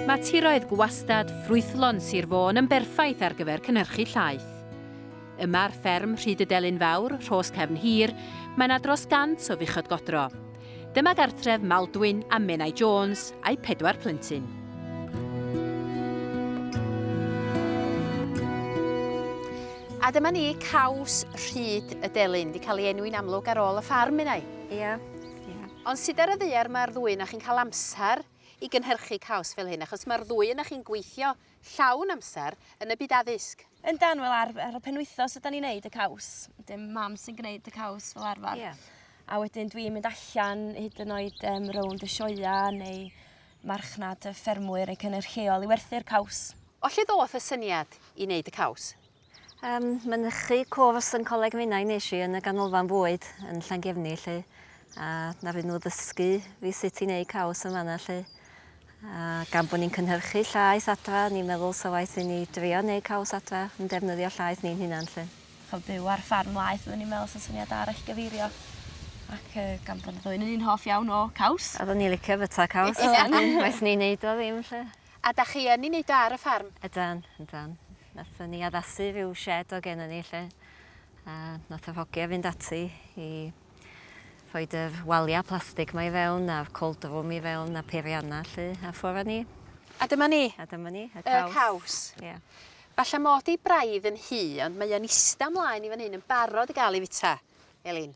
Mae tiroedd gwastad ffrwythlon Sir Fôn yn berffaith ar gyfer cynhyrchu llaeth. Yma ar fferm Rhyd y Delyn Fawr, Rhos Cefn Hir, mae yna dros gant o fuchod godro. Dyma gartref Maldwyn a Menai Jones a'u pedwar plentyn. A dyma ni caws rhyd y delyn, wedi cael ei enwi'n amlwg ar ôl y ffarm yna. Ia. Ia. Ond sydd ar y ddaear mae'r ddwy yna chi'n cael amser i gynhyrchu caws fel hyn, achos mae'r ddwy yna chi'n gweithio Llawn amser yn y byd addysg. Yndan, wel ar ar y penwythnos ydan ni'n neud y caws. Wedyn mam sy'n gneud y caws fel arfar. Ie. A wedyn dwi'n mynd allan hyd yn oed yym rownd y sioea neu marchnad y ffermwyr neu cynyr lleol i werthu'r caws. O lle ddoth y syniad i neud y caws? Yym, mynychu cwrs yn Coleg Menai nes i yn y Ganolfan Fwyd yn Llangefni 'lly, a naru nhw ddysgu fi sut i neud caws yn fan'na 'lly. A gan bo' ni'n cynhyrchu llaeth adra, ni'n meddwl 'sa waeth i ni drio neud caws adra yn defnyddio llaeth ni'n hunan 'lly. Ch'od byw ar ffarm laeth odden ni'n meddwl 'sa syniad da roi gyfeirio ac yy gan bo' ni ddwy 'nyn ni'n hoff iawn o caws. Oddwn i licio byta caws. Waeth ni neud o ddim 'lly. A dach chi yn 'i neud o ar y ffarm? Ydan, ydan. Nathon ni addasu rhyw shed o' gennon ni 'lly a nath yr hogia fynd ati i rhoid yr walia plastig 'ma i fewn a'r cold room i fewn a peirianna 'lly a ffwr a ni. A dyma ni. A dyma ni, y caws. Y caws. Ia. Falla mod i braidd yn hŷ ond mae o'n ista mlaen i fan hyn yn barod i ga'l 'i fita. Elin.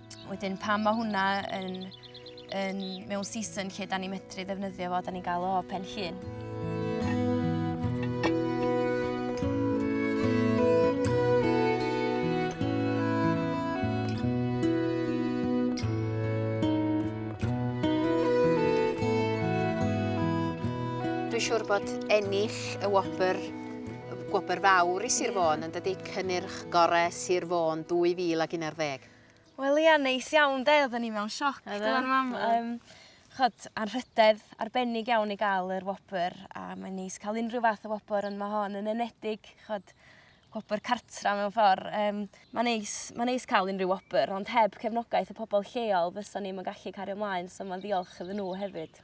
Wedyn pan mae hwnna yn, yn mewn season lle da ni medru ddefnyddio fo, da ni'n gael o pen llun. Dwi'n siŵr bod ennill y wobr gwobr fawr i Sir Fôn yn dydy cynnyrch gorau Sir Fôn 2011. Wel ia neis iawn 'de oddan ni mewn sioc do yn fam yym ch'od anrhydedd arbennig iawn i ga'l yr wobr a mae'n neis ca'l unryw fath o wobr on' ma' hon yn enedig ch'od gwobr cartra mewn ffor yym ma'n neis ma'n neis ca'l unryw wobr ond heb cefnogaeth y pobol lleol fysan ni'm yn gallu cario mlaen so ma'n ddiolch iddyn n'w hefyd.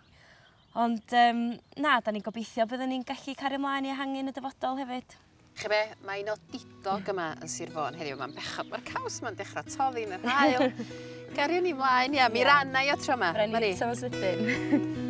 Ond um, na, da ni'n gobeithio byddwn ni'n gallu cario ymlaen i ehangu yn y dyfodol hefyd. Chi be, mae un o didog yma yn Sir Fôn heddiw, mae'n bechod, mae'r caws yma'n dechrau toddi yn yr hael. Gario ni mlaen, ia, mi yeah. rannau o tro yma. Rhaid ni tro sydyn.